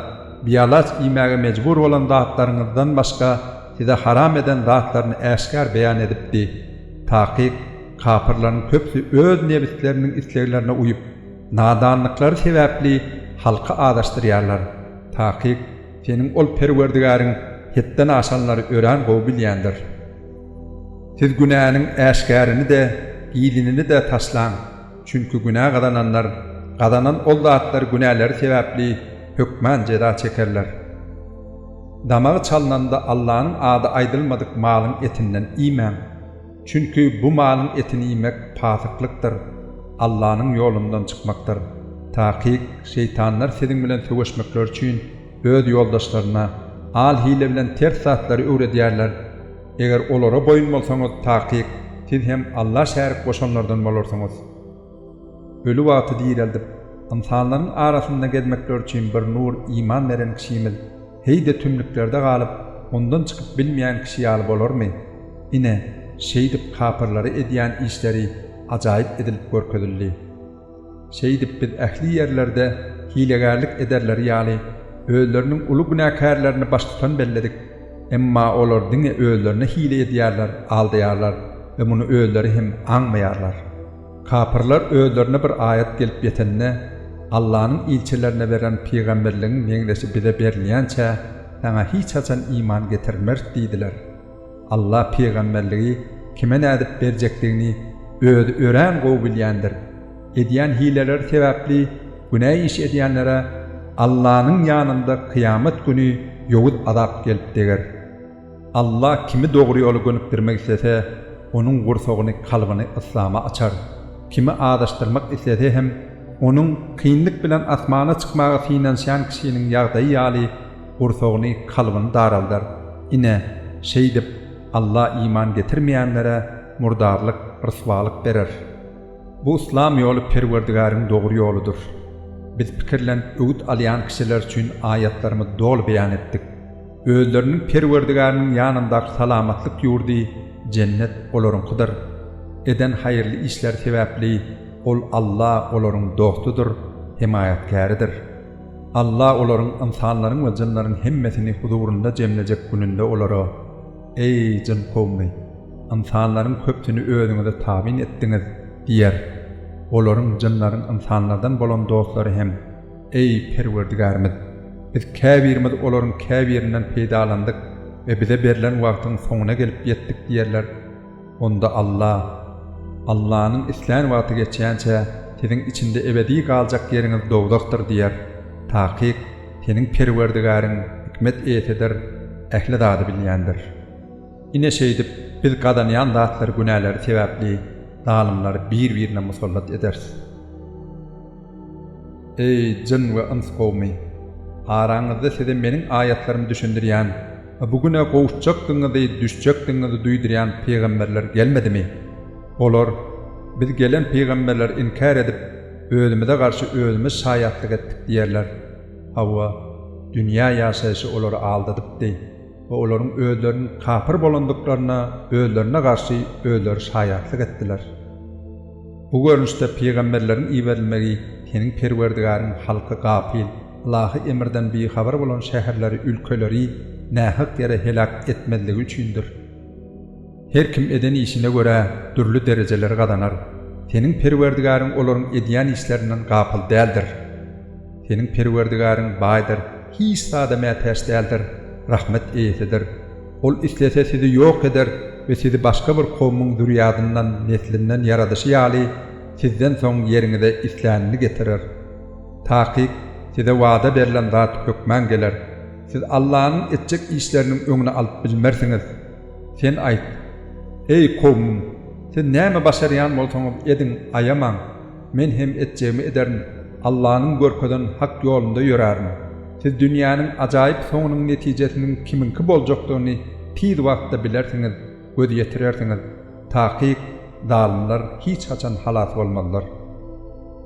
Bialaç iýmäge mejbur bolan zatlaryňyzdan başga size haram eden zatlaryny äşgär beýan edipdi. Takyk, kapyrlaryň köpüsi öz nebisleriniň isleglerine uýup, nadanlyklary sebäpli halky azaşdyrýarlar. Takyk, seniň ol Perwerdigäriň hetden aşanlary örän gowy bilýändir. Siz günäniň äşgärini-de, gizinini-de taşlaň. Çünki günä gazananlar, gazanan ol zatlar günäleri sebäpli hökman jeza çekerler. Damagy çalnanda Allanyň ady aýdylmadyk malyň etinden iýmäň. Çünki bu malyň etini iýmek pasyklykdyr, Allanyň ýolundan çykmakdyr. Takyk, şeýtanlar siziň bilen söweşmekleri üçin öz ýoldaşlaryna al-hile bilen ters zatlary öwredýärler. Eger olara boýun bolsaňyz, takyk, siz hem Alla şärik goşanlardan bolarsyňyz. Öli wagty direldip, ynsanlaryň arasynda gezmekleri üçin bir nur iman beren kişimiz heý-de tümlüklerde galyp, ondan çykyp bilmeýän kişi ýaly bolarmy? Ine, şeýdip kapyrlary edýän işleri ajaýyp edilip görkezildi. Şeýdip biz ähli ýerlerde hilegärlik ederleri ýaly, özleriniň uly günäkärlerini baştutan belledik. Emma olar diňe özlerine hile edýärler, aldaýarlar we muny özleri hem aňmaýarlar. Kapyrlar özlerine bir aýat gelip ýetende, Allanyň ilçilerine beren pygamberligiň meňzeşi bize berilýänçä, saňa hiç haçan iman getirmeris diýdiler. Allah pygamberligi kime nädip berjekdigini Özi örän gowy bilýändir. Edýän hileleri sebäpli günä iş edýänlere Allanyň ýanynda kyýamat güni ýowuz azap gelip deger. Allah kimi dogry ýola gönükdirmek islese, onuň gursagyny, kalbyny yslama açar. Kimi azaşdyrmak islese hem, onuň, kynlyk bilen asmana çykmaga synanyşýan kişiniň ýagdaýy ýaly, gursagyny, kalbyny daraldar. Ine, şeýdip, Alla iman getirmeýänlere murdarlyk, ryswalyk berer. Bu yslam ýoly Perwerdigäriň dogry ýoludyr. Biz pikirlenip öwüt alýan kişiler üçin aýatlarymyzy doly beýan etdik. Özleriniň Perwerdigäriniň ýanyndaky salamatlyk ýurdy, jennet, olaryňkydyr. Eden haýyrly işleri sebäpli Ol, Alla, olaryň dostudyr, hemaýatkäridir. Alla olaryň, ynsanlaryň we jynlaryň hemmesini huzurynda jemlejek gününde olara, Eý, jyn kowumy! Ynsanlaryň köpüsini özüňize tabyn etdiňiz! diýer. Olaryň, jynlaryň, ynsanlardan bolan dostlary hem, Eý, Perwerdigärimiz! Biz käbirimiz olaryň käbirinden peýdalandyk we bize berlen wagtyň soňuna gelip ýetdik diýerler. Onda Alla, Allanyň islän wagty geçýänçä, siziň içinde ebedi galjak ýeriňiz dowzahdyr diýer. Takyk, seniň Perwerdigäriň hikmet eýesidir, ähli zady bilýändir. Ine şeýdip, Biz gazanýan zatlary günälary sebäpli zalymlary bir-birine musallat ederis. Eý, jyn we yns kowumy! Araňyzda size Meniň aýatlarymy düşündirýän we bu güne gowuşjakdygyňyzy, düşjekdigiňizi duýdurýan pygamberler gelmedimi? Olar, Biz gelen pygamberleri inkär edip, özümize garşy özümiz şaýatlyk etdik diýerler. Hawa, dünýä ýaşaýşy olary aldadypdy we olaryň özleriniň kapyr bolandyklaryna özlerine garşy özleri şaýatlyk etdiler. Bu görnüşde pygamberleriň iberilmegi seniň Perwerdigäriň halky gapyl, ylahy emirden bihabar bolan şäherleri, ülkeleri nähak ýere heläk etmezligi üçindir. Her kim eden işine görä dürli derejeleri gazanar. Seniň Perwerdigäriň olaryň edýän işlerinden gapyl däldir. Seniň Perwerdigäriň baýdyr. Hiç zada mätäç däldir, rahmet eýesidir. Ol islese sizi ýok eder we sizi başga bir kowmyň zürýadyndan, neslinden ýaradyşy ýaly, sizden soň ýeriňize islänini getirer. Takyk, size wada berlen zat hökman geler. Siz Allanyň etjek işleriniň öňüni alyp bilmersiňiz. Sen aýt, Eý, kowmym! Siz näme başarýan bolsaňyz ediň, aýamaň. Men hem etjegimi ederin, Allanyň görkezen hak ýolunda ýörärin. Siz dünýäniň ajaýyp soňunyň netijesiniň kimiňki boljakdygyny tiz wagtda bilersiňiz, göz ýetirersiňiz. Takyk, zalymlar hiç haçan halas bolmazlar.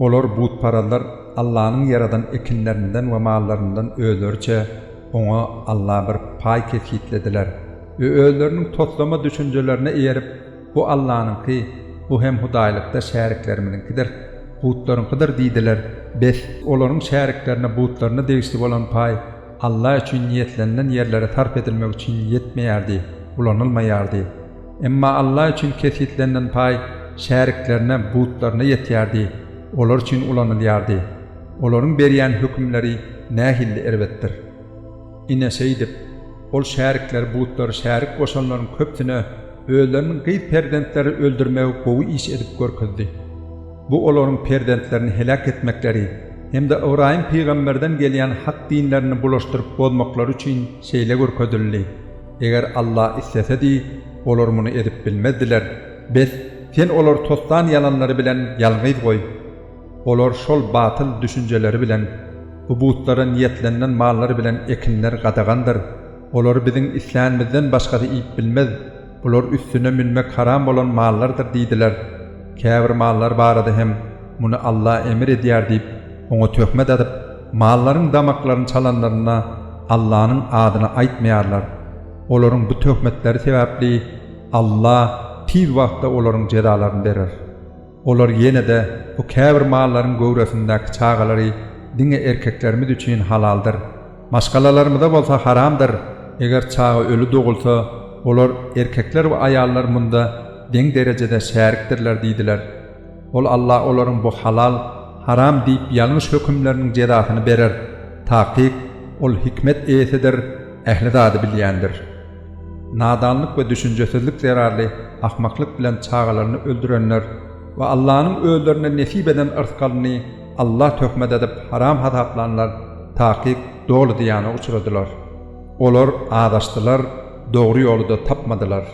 Olar, butparazlar, Allanyň ýaradan ekinlerinden we mallaryndan özleriçe, oňa, Alla, bir paý kesgitlediler we özleriniň toslama düşünjelerine eýerip, Bu Allanyňky, bu hem hudaýlykda şäriklerimiziňkidir, butlaryňkydyr diýdiler. Bes! Olaryň şäriklerine butlaryna degişli bolan paý Alla üçin niýetlenilen ýerlere sarp edilmek üçin ýetmeýärdi, ulanylmaýardy. Emma Alla üçin kesgitlenilen paý şäriklerine, butlaryna ýetýärdi, olar üçin ulanylýardy. Olaryň berýän hökümleri nähilli erbetdir! Ine, şeýdip, ol şärikleri butlary şärik goşanlaryň köpüsine özleriniň gyz perzentleri öldürmegi gowy iş edip görkezdi. Bu olaryň perzentlerini heläk etmekleri hem-de Ybraýym pygamberden gelýän hak dinlerini bulaşdyryp bozmaklary üçin şeýle görkezildi, Eger Alla islesedi, olar muny edip bilmezdiler. Bes, sen olary tosdan ýalanlary bilen ýalňyz goý. Olar şol batyl düşünjeleri bilen, Bu butlara niýetlenilen mallar bilen ekinler gadagandyr. Olary biziň islänimizden başgasy iýip bilmez. Bular üstüne münmek haram bolan mallardyr diýdiler. Käbir mallar barada hem, Muny Alla emir edýär diýip, oňa töhmet atyp, mallaryň damaklaryny çalanlarynda Allanyň adyny aýtmaýarlar. Olaryň bu töhmetleri sebäpli Alla tiz wagtda olaryň jezalaryny berer. Olar ýene-de bu käbir mallaryň göwresindäki çagalary diňe erkeklerimiz üçin halaldyr, maşgalalarymyza bolsa haramdyr, eger çaga öli dogulsa, olar, erkekler we aýallar, munda deň derejede şärikdirler diýdiler. Ol Alla olaryň bu halal, haram diýip ýalňyş hökümleriniň jezasyny berer. Takyk, Ol hikmet eýesidir, ähli zady bilýändir. Nadanlyk we düşünjesizlik zerarly ahmaklyk bilen çagalaryny öldürenler we Allanyň özlerine nesip eden yrsgalyny Alla töhmet edip haram hasaplanlar takyk doly zyýana uçradylar. Olar azaşdylar, dogry ýoly-da tapmadylar.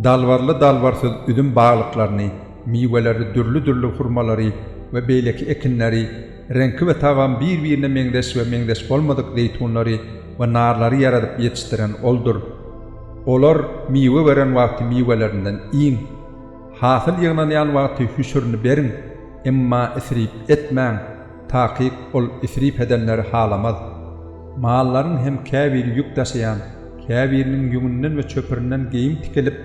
Dalbarly dalbarsyz üzüm baglyklaryny, miweleri dürli-dürli hurmalary we beýleki ekinleri, Reňki we tagamy bir-birine meňzeş we meňzeş bolmadyk zeýtunlary we narlary ýaradyp ýetişdiren Oldur. Olar miwe beren wagty miwelerinden iýiň. Hasyl ýygnanýan wagty hüşürini beriň, emma isrip etmäň, takyk Ol isrip edenleri halamaz. Mallaryň hem käbiri ýük daşaýan, käbiriniň ýüňünden we çöpürinden geýim tikilip,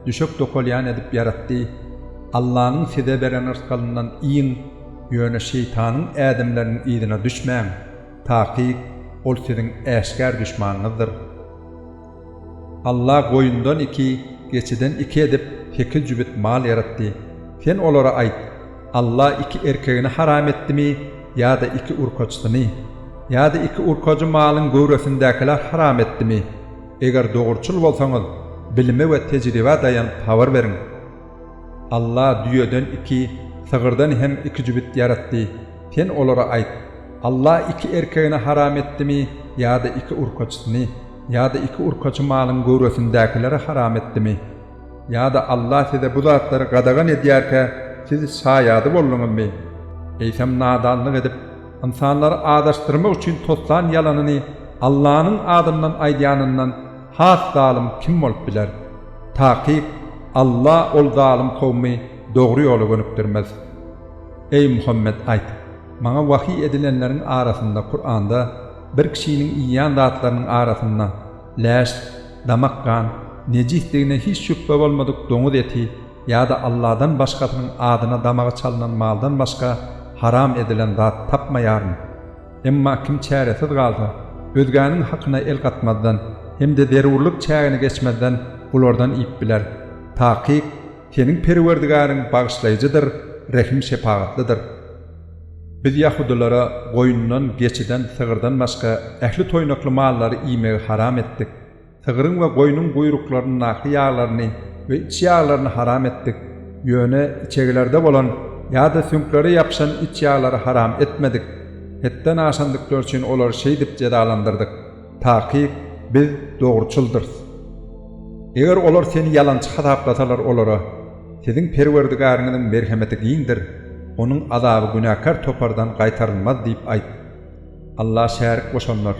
düşek dokalýan edip ýaratdy. Allanyň size beren rysgalyndan iýiň. Ýöne şeýtanyň ädimleriniň yzyna düşmäň, takyk, ol siziň äşgär duşmanyňyzdyr. Alla goýundan iki, geçiden iki edip, sekiz jübüt mal ýaratdy. Sen olara aýt, Alla iki erkegini haram etdimi ýa-da iki urkaçysyny? Ýa-da iki urkajy malyň göwresindäkiler haram etdimi? Eger dogruçyl bolsaňyz, bilime we tejribä daýanyp habar beriň. Alla düýeden iki, sygyrdan hem iki jübüt ýaratdy. Sen olara aýt, Alla iki erkegini haram etdimi ýa-da iki urkaçysyny ýa-da iki urkaçy malyň göwresindäkileri haram etdimi? Ýa-da Alla size bu zatlary gadagan edýärkä, siz şaýady bolduňyzmy? Eýsem nadanlyk edip, ynsanlary azaşdyrmak üçin toslan ýalanyny Allanyň adyndan aýdýanyndan Has zalym kim bolup biler? Takyk, Alla ol zalym kowumy dogry ýola gönükdirmez. Eý, Muhammet, aýt, Maňa wahyý edilenleriň arasynda, Kuranda, bir kişiniň iýýän zatlarynyň arasynda, läş, damak gan, nejisdigine hiç şübhe bolmadyk doňuz eti ýa-da Alladan başgasynyň adyna damagy çalnan maldan başga haram edilen zat tapmaýaryn. Emma kim çäresiz galsa, özgäniň hakyna el gatmazdan hem-de zerurlyk çägini geçmezden bulardan iýip biler. Takyk, Seniň Perwerdigäriň bagyşlaýjydyr, rehim-şepagatlydyr. Biz ýahudylara goýundan, geçiden, sygyrdan başga ähli toýnakly mallary iýmegi haram etdik. Sygryň we goýnuň guýruklaryndaky ýaglaryny we iç ýaglaryny haram etdik, ýöne içegilerde bolan ýa-da süňklere ýapyşan iç ýaglary haram etmedik, hetden aşandyklary üçin olary şeýdip jezalandyrdyk, takyk Biz dogruçyldyrys. Eger olar seni ýalançy hasaplasalar olara, Siziň Perwerdigäriňiziň merhemeti giňdir, onuň azaby günäkär topardan gaýtarylmaz diýip aýt. Alla şärik goşanlar.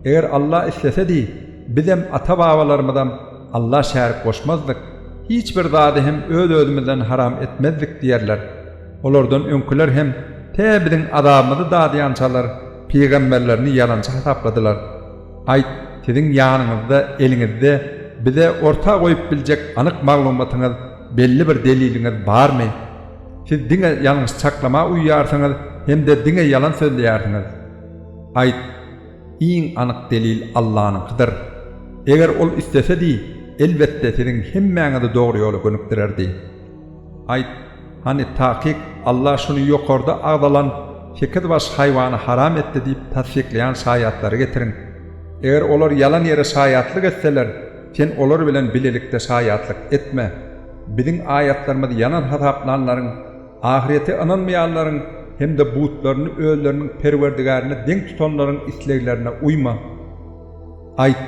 Eger Alla islesedi, bizem, ata-babalarymyzam Alla şärik goşmazdyk, hiç bir zady hem öz-özümizden haram etmezdik diýerler. Olardan öňküler hem tä biziň azabymyzy dadýançalar pygamberlerini ýalançy hasapladylar. Aýt, siziň ýanyňyzda, eliňizde bize orta goýup biljek anyk maglumatyňyz, belli bir deliliňiz barmy? Siz diňe ýalňyş çaklama uýýarsyňyz hem-de diňe ýalan sözleýärsiňiz. Aýt, iň anyk delil Allanyňkydyr. Eger Ol islesedi, elbetde siziň hemmäňizi dogry ýola gönükdirerdi. Aýt, hany takyk Alla şuny ýokarda agzalan sekiz baş haýwany haram etdi diýip tassyklaýan şaýatlary getiriň. Eger olar ýalan ýere şaýatlyk etseler, Sen olar bilen bilelikde şaýatlyk etme. Biziň aýatlarymyzy ýalan hasaplanlaryň, ahyrete ynanmaýanlaryň hem-de butlaryny özleriniň Perwerdigärine deň tutanlaryň isleglerine uýma. Aýt,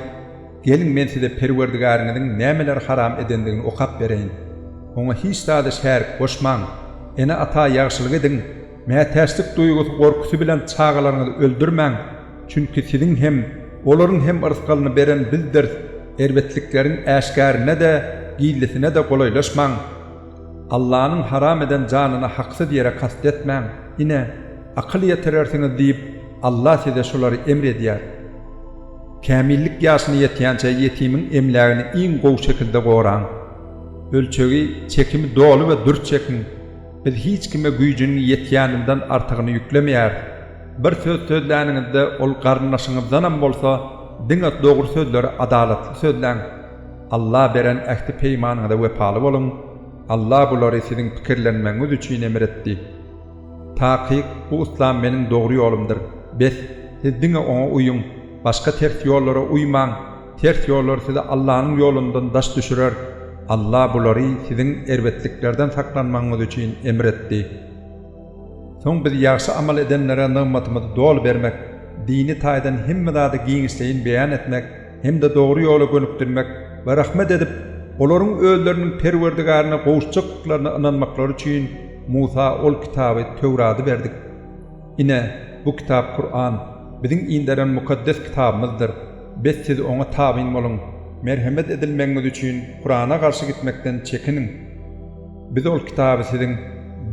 Geliň men size Perwerdigäriňiziň nämeleri haram edendigini okap bereýin. Oňa hiç zady şärik goşmaň. Ene-ata ýagşylyk ediň. Mätäçlik duýgusy gorkusy bilen çagalaryňyzy öldürmäň. Çünki siziň hem, olaryň hem yrsgalyny beren Bizdirs, erbetlikleriň äşgärine-de, gizlisine-de golaýlaşmaň. Allanyň haram eden janyna haksyz ýere kast etmäň. Ine, akyl ýetirersiňiz diýip, Alla size şulary emr edýär. Kämillik ýaşyna ýetýänçä ýetimiň emlägini iň gowy şekilde goraň. Ölçegi, çekimi doly we dürs çekiň. Biz hiç kime güýjüniň ýetýäninden artygyny ýüklemeýäris. Bir söz sözläniňizde ol garyndaşyňyzdanam bolsa, diňe dogry sözleri adalatly sözläň. Alla beren ähti-peýmanyňyza wepaly boluň. Alla bulary siziň pikirlenmegiňiz üçin emr etdi. Takyk, bu yslam meniň dogry ýolumdyr. Bes, siz diňe oňa uýuň, başga ters ýollara uýmaň. Ters ýollar sizi Allanyň ýolundan daş düşürer. Alla bulary siziň erbetliklerden saklanmagyňyz üçin emr etdi. Soň Biz ýagşy amal edenlere nygmatymyzy doly bermek, dini taýdan hemme zady giňişleýin beýan etmek hem-de dogry ýola gönükdirmek we rahmet edip, olaryň özleriniň Perwerdigaryna gowuşjakdyklaryna ynanmaklary üçin Musa ol kitaby, Töwrady, berdik. Ine, bu kitap Kuran, Biziň inderen Mukaddes Kitabymyzdyr. Bes siz oňa tabyn boluň. Merhemet edilmegiňiz üçin Kurana garşy gitmekden çekiniň. Biz ol kitaby siziň,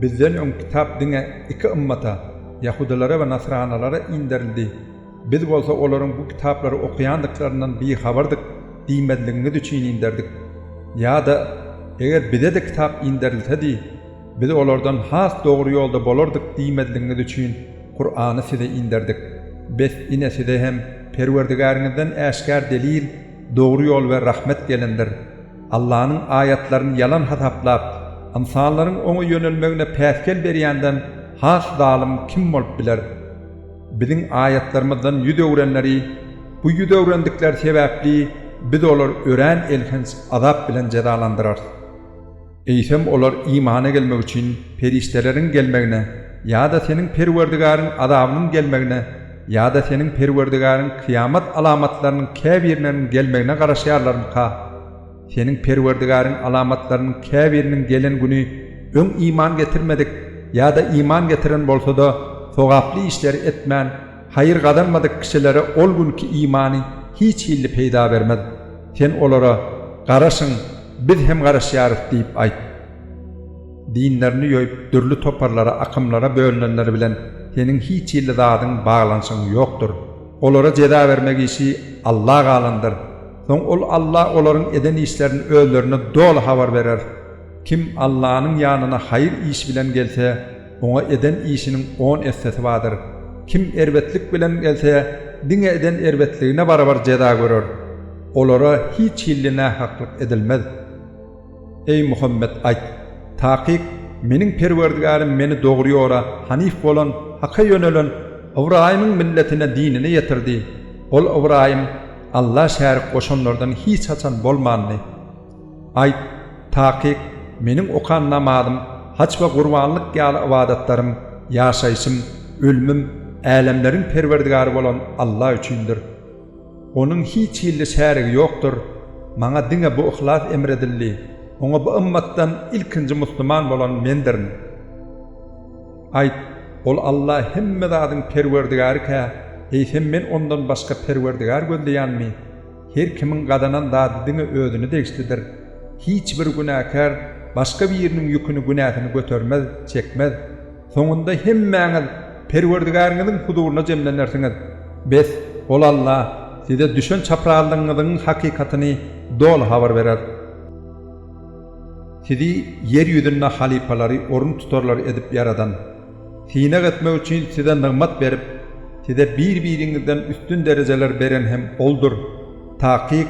Bizden öň kitap diňe iki ymmata, ýahudylara we nasranalara inderildi. Biz bolsa olaryň bu kitaplary okaýandyklaryndan bihabardyk diýmezligiňiz üçin inderdik. Ýa-da, Eger bize-de kitap inderilsedi, Biz olardan has dogry ýolda bolardyk diýmezligiňiz üçin Kurany size inderdik. Bes, ine, size hem Perwerdigäriňizden äşgär delil, dogry ýol we rahmet gelendir. Allanyň aýatlaryny ýalan hasaplap, ynsanlaryň oňa ýönelmegine päsgel berýänden has zalym kim bolup biler? Biziň aýatlarymyzdan ýüz öwrenleri, bu ýüz öwrendikleri sebäpli Biz olary örän elhenç azap bilen jezalandyrarys. Eýsem olar imana gelmek üçin perişdeleriň gelmegine ýa-da seniň Perwerdigaryň azabynyň gelmegine ýa-da seniň Perwerdigaryň kyýamat alamatlarynyň käbirleriniň gelmegine garaşýarlarmyka? Seniň Perwerdigaryň alamatlarynyň käbiriniň gelen güni öň iman getirmedik ýa-da iman getiren bolsa-da, sogaply işleri etmän, Haýyr gazanmadyk kişilere ol günki imany hiç hilli peýda bermez. Sen olara, Garaşyň, biz hem garaşýarys diýip aýt. Dinlerini ýoýup, dürli toparlara, akymlara bölünenler bilen seniň hiç hilli zadyň, baglanyşygyň ýokdur. Olara jeza bermek işi Alla galandyr. Soň ol Alla olaryň eden işlerini özlerine doly habar berer. Kim Allanyň ýanyna haýyr iş bilen gelse, Oňa eden işiniň on essesi bardyr. Kim erbetlik bilen gelse, diňe eden erbetligine barabar jeza görer. Olara hiç hilli nähaklyk edilmez. Eý, Muhammet, aýt, Takyk, Meniň Perwerdigärym meni dogry ýola, hanyf bolan, haka ýönelen, Ybraýymyň milletine, dinine ýetirdi. Ol, Ybraýym, Alla şärik goşanlardan hiç haçan bolmandy. Aýt, takyk, meniň okan namazym, haç we gurbanlyk ýaly ybadatlarym, ýaşaýşym, ölümim Älemleriň Perwerdigary bolan Alla üçindir. Onuň hiç hilli şärigi ýokdur. Maňa diňe bu yhlas emr edildi, oňa bu ymmatdan ilkinji musulman bolan mendirin. Aýt, Ol Alla hemme zadyň Perwerdigary-kä, eýsem men Ondan başga Perwerdigar gözleýänmi? Her kimiň gazanan zady diňe özüne degişlidir. Hiç bir günäkär başga biriniň ýüküni, günäsini götermez, çekmez. Soňunda hemmäňiz Perwerdigäriňiziň huzuryna jemlenersiňiz. Bes, ol Alla size düşen çaprazlygyňyzyň hakykatyny doly habar berer. Sizi ýer ýüzünde halypalary, orun tutarlary edip ýaradan. Synag etmek üçin size nygmat berip, size bir-biriňizden üstün derejeler beren hem Oldur. Takyk,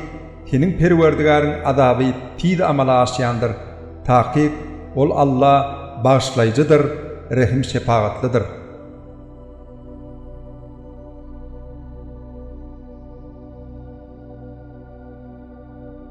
seniň Perwerdigäriň azaby tiz amala aşýandyr. Takyk, Ol Alla Bagyşlaýjydyr, Rehim-şepagatlydyr.